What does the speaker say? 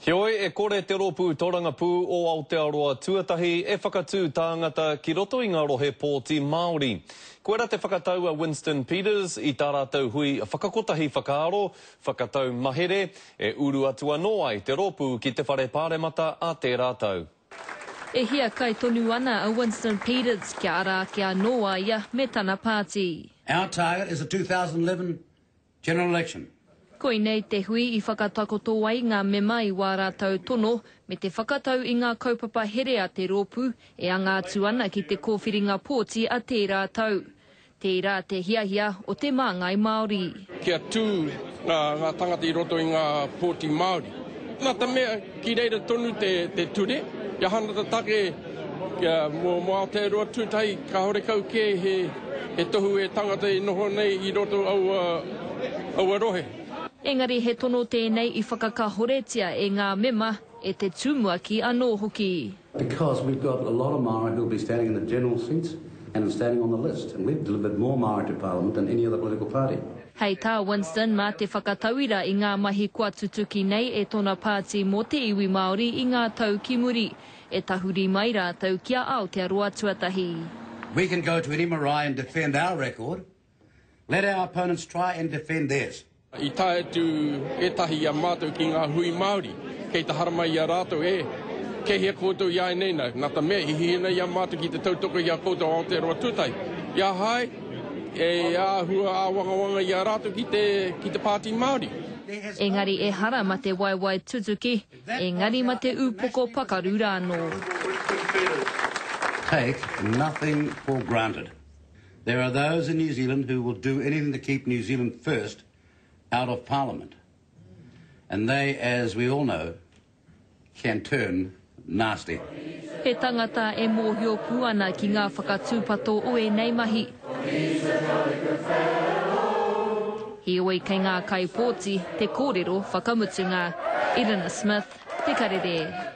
Heoi, e kore te Rōpū Tōrangapū o Aotearoa tuatahi e whakatū tāngata ki roto i ngā rohe pōti Māori. Koirā te whakatau a Winston Peters i tā rātou hui whakakotahi whakaaro, whakatau mahere, e uru atu anō ai te rōpū ki te Whare Pāremata ā tērā tau. E hiakai tonu ana a Winston Peters kia ara ake anō a ia me tana pāti. Our target is a 2011 General election. Koinei te hui i whakatakoto ai ngā mema i wā rātou tono me te whakatau i ngā kaupapa here a te rōpū e anga atu ana ki te kōwhiringa pōti a tērā tau. Tērā te hiahia o te Māngai Māori. Kia tū ngā tangata i roto i ngā pōti Māori. Nā te mea. Ki reira tonu te ture, kia hanata take mō Aotearoa Tūtahi, kāore kau kē he tohu e tangata e noho nei i roto aua rohe. Engari he tono tēnei i whakakahoretia e ngā mema, e te tumuaki anō hoki. Because we've got a lot of Māori who will be standing in the general seats and in standing on the list and we've delivered more Māori to parliament than any other political party. Hei tā Winston, mā te whakatauira i ngā mahi kua tutuki nei e tōna pāti mō te iwi Māori i ngā tau ki muri, e tahuri mai rātou ki a Aotearoa Tuatahi. We can go to any marae and defend our record Let our opponents try and defend theirs. I tae atu ētahi i a mātou ki ngā hui Māori, kei te haramai i a rātou e. Kei hea koutou i a ēnei nā? Nā te mea i hihi ana i a mātou ki te tautoko i a koutou Aotearoa tūtahi. I a hai, e āhua āwangawanga i a rātou ki te, ki te Pāti Māori. Engari ehara ma te waewae tutuki, engari ma te upoko pakaru rānō. Take nothing for granted. There are those in New Zealand who will do anything to keep New Zealand First out of Parliament. And they, as we all know, can turn nasty. He tangata e mōhio pū ana ki ngā whakatūpato o ēnei mahi. Heoi kei ngā kaipōti te kōrero whakamutunga. Irina Smith, Te Karere.